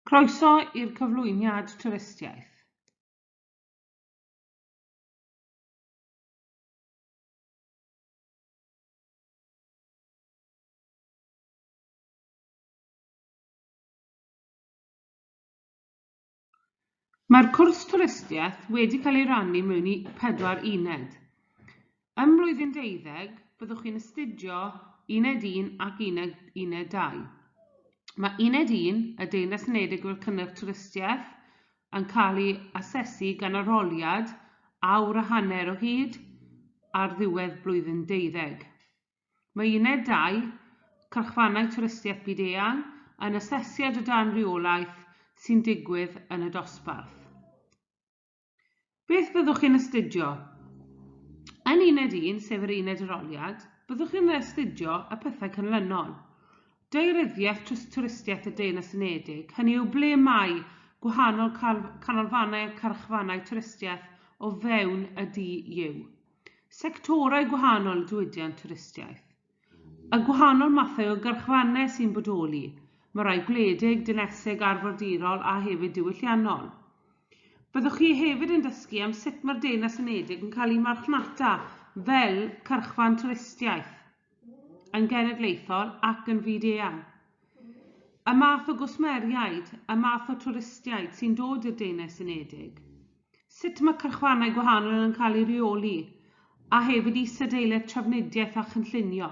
Croeso i'r cyflwyniad twristiaeth. Mae'r cwrs twristiaeth wedi cael ei rannu mewn i pedwar uned. Ym mlwyddyn deuddeg, byddwch chi'n astudio Uned Un ac Uned Uned Dau. Mae Uned Un, y Deyrnas Unedig fel Cynnyrch Twristiaeth, yn cael ei asesu gan arholiad awr a hanner o hyd ar ddiwedd blwyddyn deuddeg. Mae uned dau, Cyrchfannau Twristiaeth Byd-eang, yn asesiad o dan reolaeth sy'n digwydd yn y dosbarth. Beth fyddwch chi'n astudio? Yn uned un, sef yr uned aroliad, byddwch chi'n astudio y pethau canlynol. Daearyddiaeth tros twristiaeth y Deyrnas Unedig, hynny yw ble mae gwahanol canolfannau a chyrchfannau twristiaeth o fewn y DU. sectorau gwahanol y diwydiant twristiaeth, y gwahanol mathau o garchfannau sy'n bodoli, mae rhai gwledig, dinesig, arfordirol a hefyd diwylliannol. Byddwch chi hefyd yn dysgu am sut mae'r Deyrnas Unedig yn cael ei marchnata fel cyrchfan twristiaeth yn genedlaethol ac yn fyd-eang, y math o gwsmeriaid, y math o twristiaid sy'n dod i'r Deyrnas Unedig, sut mae cyrchfannau gwahanol yn cael eu rheoli, a hefyd isadeiledd trafnidiaeth a chynllunio.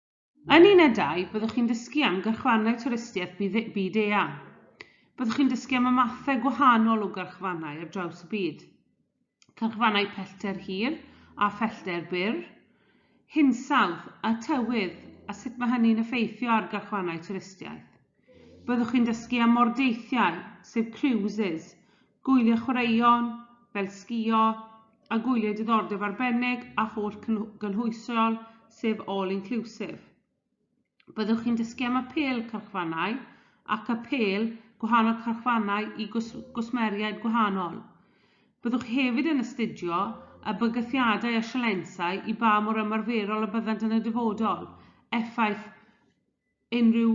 Yn unedau, byddwch chi'n dysgu am gyrchfannau twristiaeth byd, byd eang. Byddwch chi'n dysgu am y mathau gwahanol o gyrchfannau ar draws y byd. Cyrchfannau pellter hir a phellter byr, hinsawdd a tywydd a sut mae hynny'n effeithio ar gyrchfannau twristiaeth. Byddwch chi'n dysgu am mordeithiau, sef cruises, Gwyliau chwaraeon, fel sgïo, a gwyliau diddordeb arbennig a holl gynhwysiol, sef all-inclusive. Byddwch chi'n dysgu am apêl cyrchfannau ac apêl gwahanol cyrchfannau i gwsmeriaid gwahanol. Byddwch chi hefyd yn astudio y bygythiadau a sialensau i ba mor ymarferol y byddant yn y dyfodol, effaith unrhyw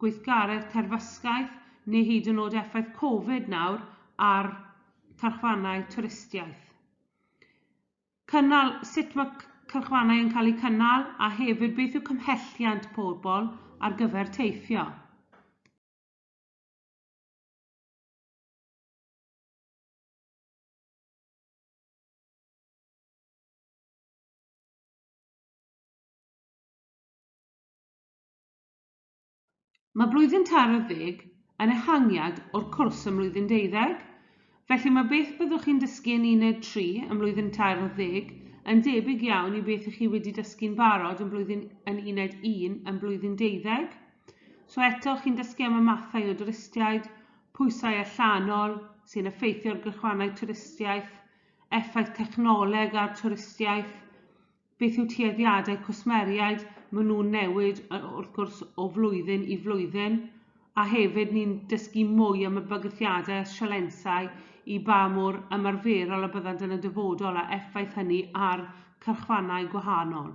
gweithgaredd terfysgaeth neu hyd yn oed effaith Covid nawr ar cylchfannau twristiaeth. Cynnal, sut mae cylchfannau yn cael eu cynnal a hefyd beth yw cymhelliant pobl ar gyfer teithio. Mae blwyddyn tair ar ddeg yn ehangiad o'r cwrs ym mlwyddyn deuddeg, felly mae beth byddwch chi'n dysgu yn uned tri ym mlwyddyn tair ar ddeg yn debyg iawn i beth 'y chi wedi dysgu'n barod yn blwyddyn yn uned un ym mlwyddyn deuddeg. So eto, chi'n dysgu am y mathau o dwristiaid, pwysau allanol sy'n effeithio ar gylchfannau twristiaeth, effaith technoleg ar twristiaeth, Beth yw tueddiadau cwsmeriaid? Maen nhw'n newid wrth gwrs o flwyddyn i flwyddyn a hefyd ni'n dysgu mwy am y bygythiadau a sialensau i ba mor ymarferol a byddant yn y dyfodol a effaith hynny ar cyrchfannau gwahanol.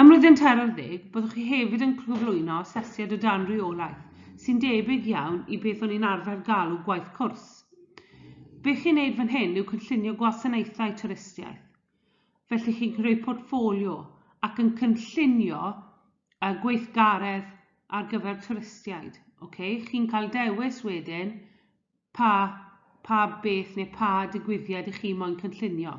Ym Mlwyddyn Tair ar Ddeg, byddwch chi hefyd yn cyflwyno asesiad o dan reolaeth, sy'n debyg iawn i beth o'n ni'n arfer galw gwaith cwrs. Be chi'n wneud fan hyn yw cynllunio gwasanaethau twristiaeth. Felly chi'n creu portffolio ac yn cynllunio uh, gweithgaredd ar gyfer twristiaid. Okay? Chi'n cael dewis wedyn pa, pa beth neu pa digwyddiad i chi moyn cynllunio.